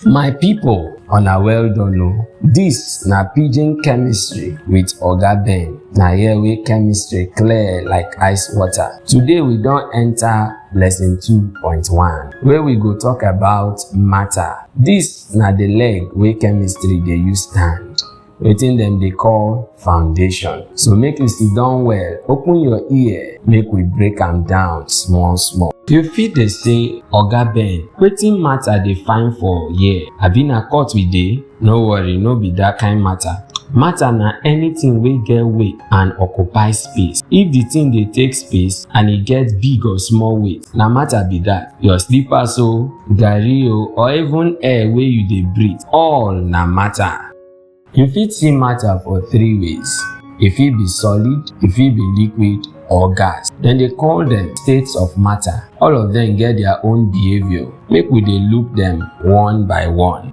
My people, una well done o. Dis na pidgin chemistry with Oga Ben. Na here wey chemistry clear like ice water. Today we don enter lesson 2.1 wey we go talk about matter. Dis na the leg wey chemistry dey use stand. wetin dem dey call foundation so make you sit down well open your ear make we break am down small small you fit dey say oga ben wetin matter dey find for here abi na court we dey no worry no be dat kind matter matter na anything wey get weight and occupy space if the thing dey take space and e get big or small weight na matter be that your slippers o garri o or even air wey you dey breathe all na matter You fit see matter for three ways. E fit be solid, e fit be liquid or gas. Dem dey call dem states of matter. All of dem get their own behaviour. Make we dey look dem one by one.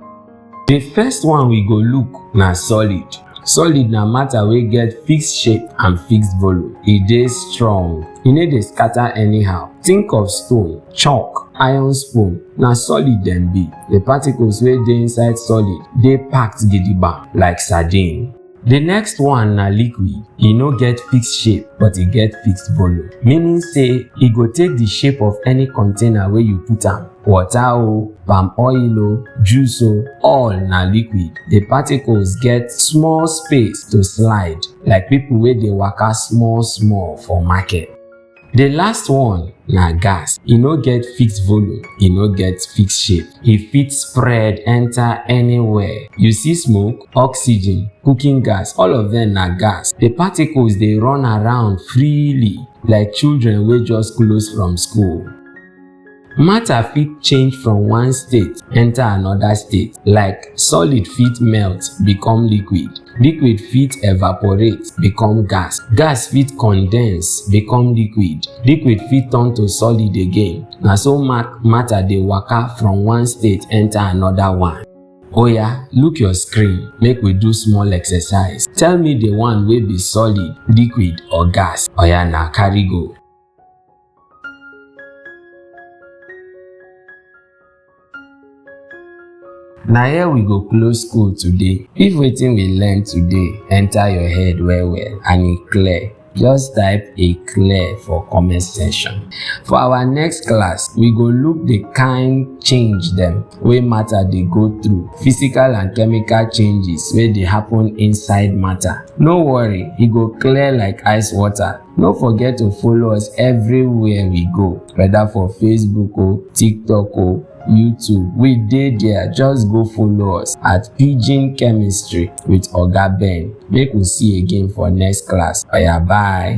The first one we go look na solid. Solid na matter wey get fixed shape and fixed volume. E dey strong, e no dey scatter anyhow. Think of stone, chalk, iron spoon na solid dem be the particles wey dey inside solid dey packed gidigba like sardine the next one na liquid e no get fixed shape but e get fixed volume meaning say e go take the shape of any container wey you put am water o palm oil o juice o all na liquid the particles get small space to slide like people wey dey waka small small for market The last one na gas. E no get fixed volume, e no get fixed shape. E fit spread enter anywhere. You see smoke, oxygen, cooking gas, all of them na gas. The particles dey run around freely like children wey just close from school. Matter fit change from one state enter another state like solid fit melt become liquid, liquid fit evaporate become gas, gas fit condense become liquid, liquid fit turn to solid again na so matter dey waka from one state enter another one. Oya look your screen make we do small exercise tell me the one wey be solid, liquid or gas oya na carry go. na here we go close school today if wetin we learn today enter your head well well and e clear just type e clear for comment section for our next class we go look the kind change dem wey matter dey go through physical and chemical changes wey dey happen inside matter no worry e go clear like ice water No forget to follow us everywhere we go, whether for Facebook o, TikTok o, YouTube. We dey there, just go follow us at Pidgin Chemistry with Oga Ben. Make we see again for next class. Oya bye.